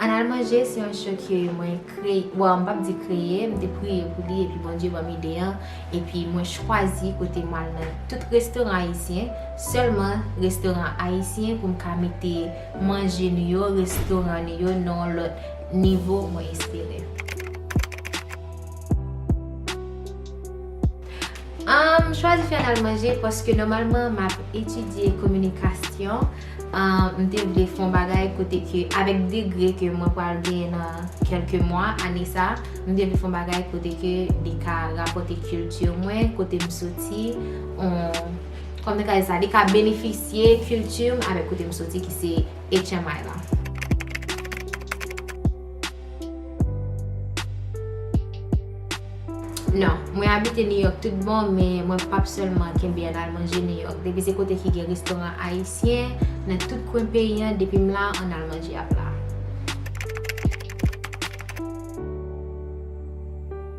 An al manje se yon show ke mwen kreye, bon m pap di kreye, m te priye pou li epi Bondye ban m ide an epi mwen chwazi kote m al nan tout restoran ayisyen, sèlman restoran ayisyen pou m ka mete manje nou yo, restoran nou yo nan yon lòt. Nivo mwen espere. M chwazi fè nan manje paske nòmalman m ap etidye kominikasyon. M te vle fè yon bagay kote ke avèk degre ke mwen pral genyen nan kèlke mwa, ane sa, m te vle fè yon bagay kote ke li ka rapòte kilti mwen, kote m soti, kòm nou ka di sa, li ka benefisye kilti m avèk kote m soti ki se. HMI la. Non, mwen abite New York tout bon, men mwen p ap sèlman kenbe an al manje New York. Depi se kote ki gen restoran ayisyen nan tout kwen peyi an, depi m la, an al manje ap la.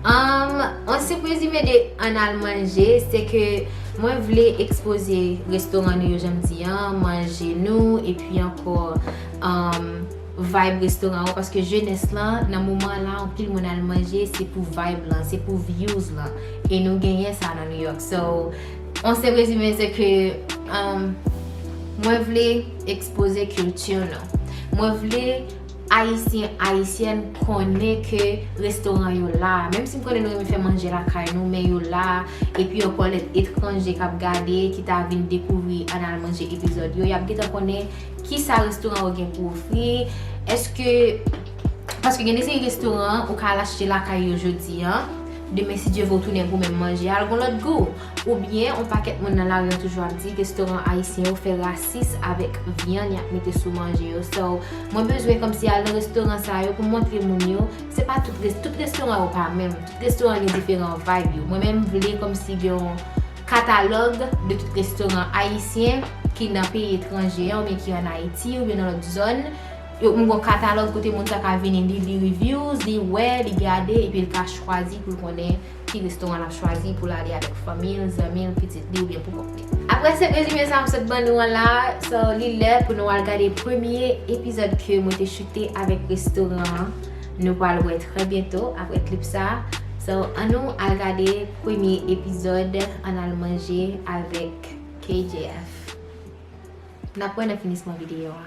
Umm on si prezime de an al manje se ke mwen vle ekspoze restoran nou yo jan m di an, manje nou epi ankò umm vibe restoran yo paske jenès lan nan moman an la anpil moun al manje se pou vibe lan se pou views lan e nou genyen sa nan New York so on se prezime se ke umm mwen vle ekspoze culture nou mwen vle Ayisyen, Ayisyèn konnen ke restoran yo la, menm si m konnen nou renmen fè manje lakay nou, men yo la, epi ankò lè etranje k ap gade, ki ta vin dekouvri Ann Al Manje epizòd yo, y ap gentan konnen ki sa restoran yo gen pou ofri, èske, paske gen de seri restoran ou ka al achte lakay yo jodi an, demen si Dye vle w tounen goumen manje a l gon lòt gou. Ou byen yon pakèt moun nan lari an toujou ap di restoran ayisyen yo fè rasis avèk vyann yap mete sou manje yo so mwen bezwen kòmsi al nan restoran sa yo pou montre moun yo se pa tout res tout restoran yo pa menm tout restoran gen diferan vayb yo mwen menm vle kòmsi gen yon katalòg de tout restoran ayisyen ki nan peyi etranje an oubyen ki an ayiti oubyen nan lòt zòn yo m gon katalòg kote moun sa ka vini li li reviews li wè li gade epi l ka chwazi pou l konnen. ki restoran l ap chwazi pou l ale avèk fanmi l, zanmi l, pitit li oubyen pou kont li. Aprè se rezime sa m sot ban nou an la, so li lè pou nou al gade premye epizòd ke mwen te choute avèk restoran an, nou pral wè trè byento aprè klip sa, so an nou al gade premye epizòd an al manje avèk KJF. N ap wè nan finisman videyo a.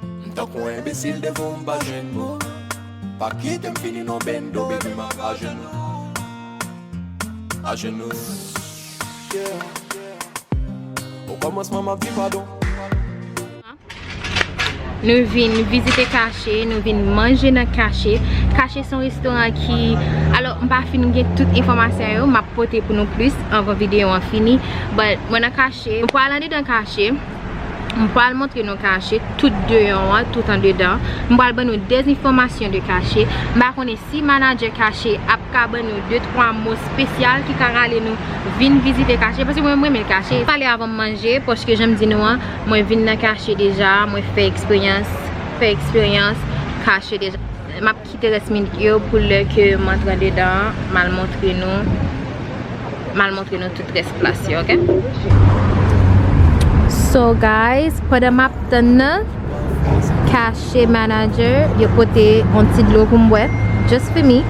M tankou yon enbesil devan w m pa jwenn mo Pa kite m fini non bendo baby m ank ajenou Ajenou yeah O kòmansman m ap di padon Nou vin vizite Kache, nou vin manje nan Kache. Kache son restoran ki... Alo, m pa fin gen tout enfomasyon yo, m ap pote pou nou plis anvan videyo an fini. But, mwen nan Kache. M pral andedan Kache. M pral montre nou kache tout deyon an tout andedan. M pral ban nou de enfòmasyon de kache. M pa konnen si manadjè kache ap ka ban nou de twa mo spesyal ki ka rale nou vin vizite kache. Paske mwen m renmen kache. M pale avan m manje paske jan m di nou an mwen vin nan kache deja. Mwen fè eksperyans fè eksperyans kache deja. Kite rès minik yo pou lè ke m antre andedan an, m al montre nou, m al montre nou tout rès plas yo ok. So guys, pandan map tann nan, kache manager yo pote yon ti dlo pou m bwè, just for me,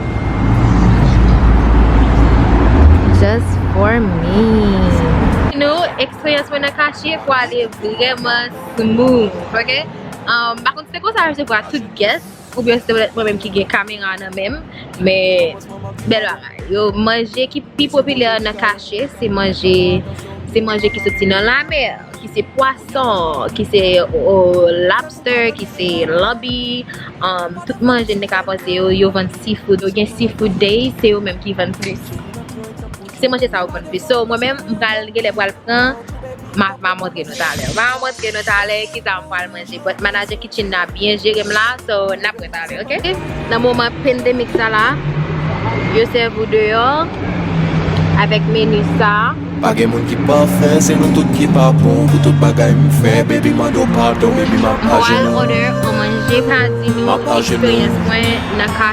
just for me. Nou, eksperyans mwen nan kache pwale vreman smooth ok, m pa konn si se konsa yo resevwa tout guest. Ou byen se mwen menm ki gen kamera nan menm men bèl bagay yo manje ki pi popilè nan kache se manje se manje ki soti nan lamè ki se pwason ki se lapstè ki se lanbi tout manje nèg ka panse yo yo vann seafood yo gen seafood day se yo menm ki vann plis. Se manje sa yo konn plis. So mwen menm m pral genlè pral pran ma montre nou talè. Ma montre nou talè kisa m pral manje but manager kitchen nan byen jere m la so nap wè talè ok. Nan moman pandemic sa la yo sèvi w deyò avèk menu sa. Pa gen moun ki pafè se nou tout ki pa bon pou tout bagay m fè baby mande w padon baby map ajenou. Pral order on manje pa di nou eksperyans mwen nan ka.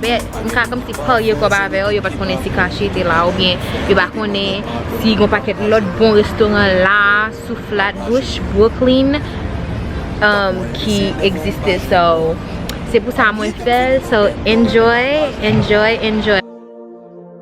Men, m ka kòmsi parye kòb avè yo, yo pa t konnen si Kashi te la oubyen yo pa konnen si gon pakèt lòt bon restoran la sou Flatbush, Brooklyn ki egziste so se pou sa mwen fè l so enjoy, enjoy, enjoy.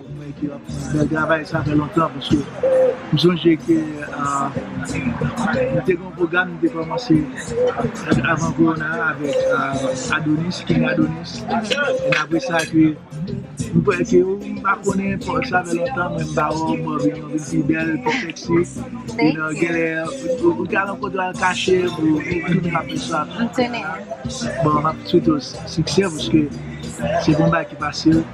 Mwen ki ap fè travay sa fè lontan paske m sonje ke nou te gen yon pwogram nou te kòmanse avan kowona a avèk Adonis, King Adonis e apre sa ke m kwè ke ou m pa konnen paske sa fè lontan men m ba ou m ba ou vin pi bèl, pi sexy epi genlè ou te al yon kote w al kache pou ou tounen ap fè sa bon m ap swete w siksè paske se pa yon bagay ki fasil.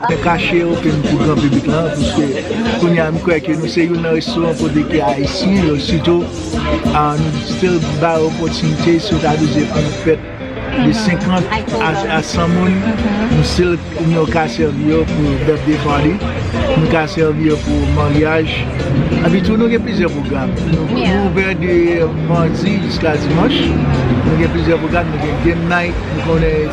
Mwen kache open m pou gran piblik lan pwiske kounya m kwè ke nou se youn nan restoran kote ke ayisyen yo sitou nou still ba yo opòtinite si yo ta vle fè yon fèt de 50 a 100 moun nou still nou ka sèvi yo pou birthday party nou ka sèvi yo pou maryaj epi tou nou gen plizyè pwogram nou ouvè de mardi jiska dimanch nou gen plizyè pwogram nou gen game night nou konnen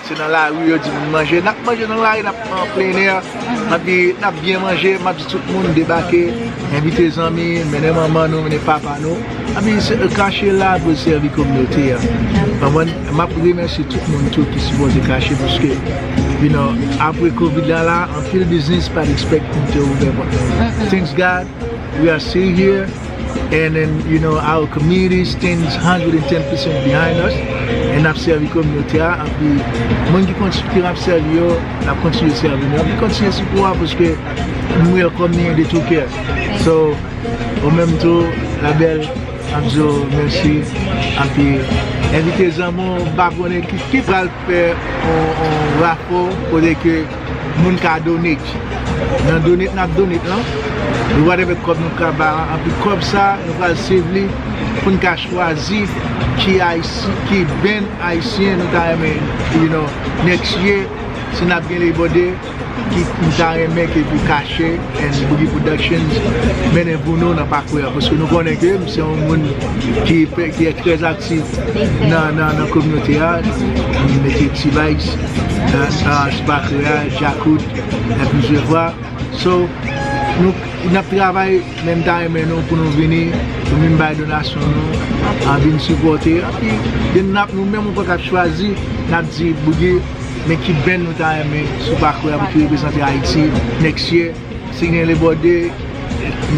Se nan lari yo di moun manje. Nap manje nan lari, nap an plen èr, nap byen manje, map di tout moun debake, envite zanmi, mennen manman nou, mennen papa nou. Epi kache la pou sèvi kominote a. Konprann? Map remèsye tout moun tou ki sipòte kache paske you know apre covid la la anpil biznis pat expect pou te ouvè pòt yo. Thanks God! We are still here and then you know our community stands 110 percent behind us and ap sèvi kominote a anpi moun ki kontinye ap sèvi yo ap kontinye sèvi nou anpi kontinye sipò a paske nou welcome ni de tout kè so ou menm tou la bèl ap di w mèsi anpi envite zanmi w m pa konnen ki pral fè yon rafò kote ke moun ka donate nan donate nap donate lan nou pral gen kòb nou pral bay lan epi kòb sa nou pral save li poun ka chwazi ki ayisyen ki band ayisyen nou ta renmen you know next year si nap gen labor day m ta renmen ke pou kache and boogie productions mennen pou nou nan pakwe a paske nou konnen ke m se yon moun ki e trè aktif nan kominote a m mete t-vice nan ti pakwe a djakout e plizyè fwa so n ap travay men m ta renmen nou pou nou vini pou vin bay donasyon nou vin sipote epi gen nou menm ou pa ka chwazi n ap di boogie Men ki band nou ta renmen sou pakwe a pou ki reprezante Ayiti next year. Si gen Lebòde,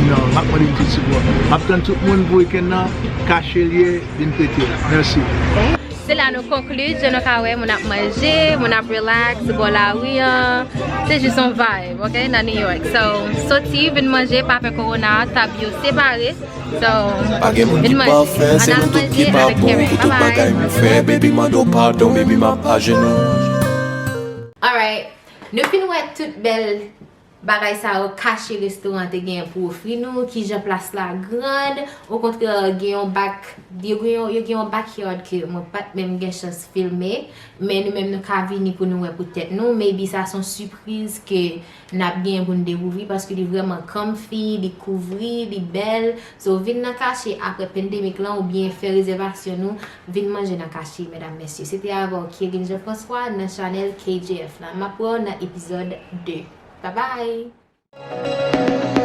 nan, map mande nou tout sipò. Map tann tout moun pou weekend nan, kache l ye, vin fete l. Mèsi. Se la nou konkli, jan nou ka wè moun ap manje, moun ap relax sou bò lari an. Se jis yon vibe, ok, nan New York. So, soti, vin manje, pa pè Corona, tab yo separe. Pa gen moun ki pafè, se nou tout ki pa bon Pou tout bagay nou fè, baby mande w padon Baby map ajenou Alright, nou fin wè tout bèl Bagay sa yo kache restoran an te genyen pou ofri nou, kijan plas la grand, okontrè gen yon back, yo gen yon backyard ke mwen pat menm gen chans filme, men nou menm nou ka vini pou nou wè pou tèt nou, maybe sa son sipriz ke Nap genyen pou n dekouvri paske li vrèman comfy, li kouvri, li bèl. So vin nan kache aprè pandemic lan oubyen fè rezèvasyon nou vin manje nan kache medam mesye. Se te avè w Kevin Jean Francois nan chanèl KJF la. Map wè w nan epizòd 2. Babay!